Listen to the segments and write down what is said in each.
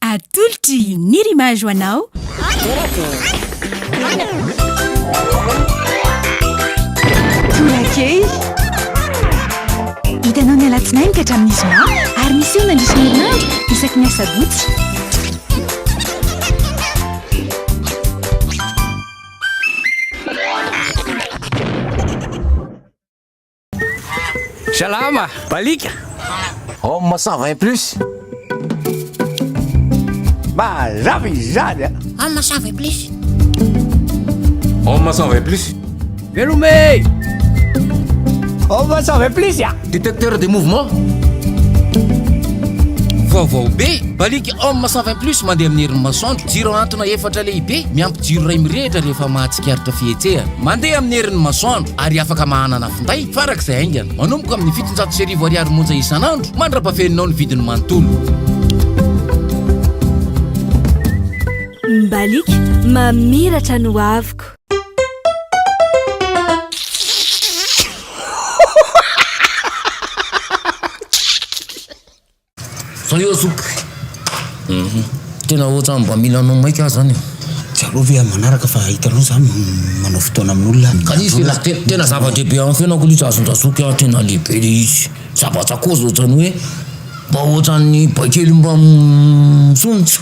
Atolotry ny rimage ho anao. Torakely. Hitanao ny alatsinainy ka hatramin'ny zoma ary miseho nandritra ny herinandro isaky ny asabotsy. Salama! Balika! Homme 120 plus. Mazava izany a! Homme 120 plus. Homme 120 plus. Velome! Homme 120 plus a! Détecteur de mouvement. Vaovao be, balika Homme 120 plus mandeha amin'ny herin'ny masoandro, jiro antona efatra lehibe, miampy jiro iray mirehitra rehefa mahatsara. Tsikaritra fihetsehana mandeha amin'ny herin'ny masoandro ary afaka mahanana finday farak'izay haingana. Manomboka amin'ny fitonjato sy arivo ariary monja isan'andro mandra-pafeninao ny vidiny manontolo. Mbaliky mamiratra ny hoaviko. Zao eo zoky. Tena ohatran'ny mba mila anao maika aho zany e. Tsy aleo ve amin'ny manaraka fa hitanao za manao fotoana amin'olona. Ka izy tena tena zava-dehibe amin'ny fiainako ilay izy azon-dRazoky a, tena lehibe ilay izy. Zava-tsakôzy ohatran'ny hoe mba ohatran'ny baikely mba misonitra.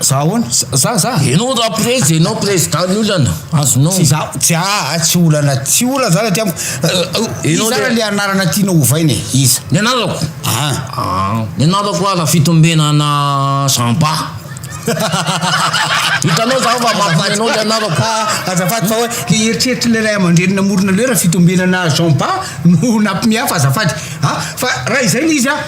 Za ahoana? Za za. Enao raprezy enao président ny olana azonao. Tsy za tsy aa tsy olana tsy olana zany aty amiko. Enao zany le anarana tiana hovaina e iza? Ny anarako? An. An. Ny anarako ara fitombena ana Jean Ba. Hitanao za fa mafana enao le anarako. Ah azafady fa hoe le eritreritry le ray aman-dreny namorona le hoe ra fitombena ana Jean Ba no nampimehy ahy fa azafady a fa ra izay le izy a.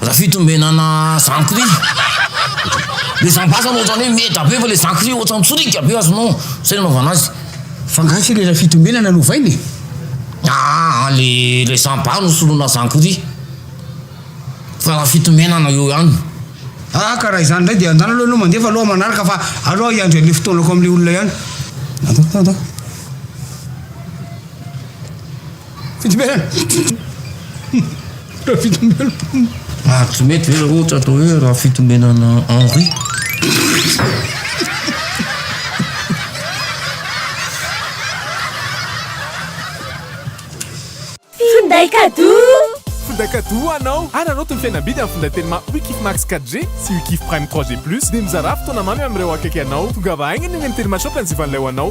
Raha fitombenana zankry le zambasana ohatrany hoe meda be fa le zankry ohatrany tsoriaka be azonao zay nanaovana azy. Fa nga tsy le raha fitombenana no ovaina e? Aa le ilay zambaa no soloina zankry fa raha fitombenana eo ihany. Aa ka raha izany indray dia andrana aloha ianao mandefa aloha manaraka fa aleo aho hiandry an'le fotoanako amin'le olona ihany. Ary tsy mety ve ohatra atao hoe Rafitombenana Henri? Finday kadoa! Finday kadoa ho anao! Ary anao tony fihenam-bidy amin'ny finday telma Wikif Max 4G sy Wikif Prime 3G Plus dia mizarà fotoana mamy amin'ireo akaiky anao. Tongava haingana eny amin'ny Telma Shop anzivan'ilay ho anao.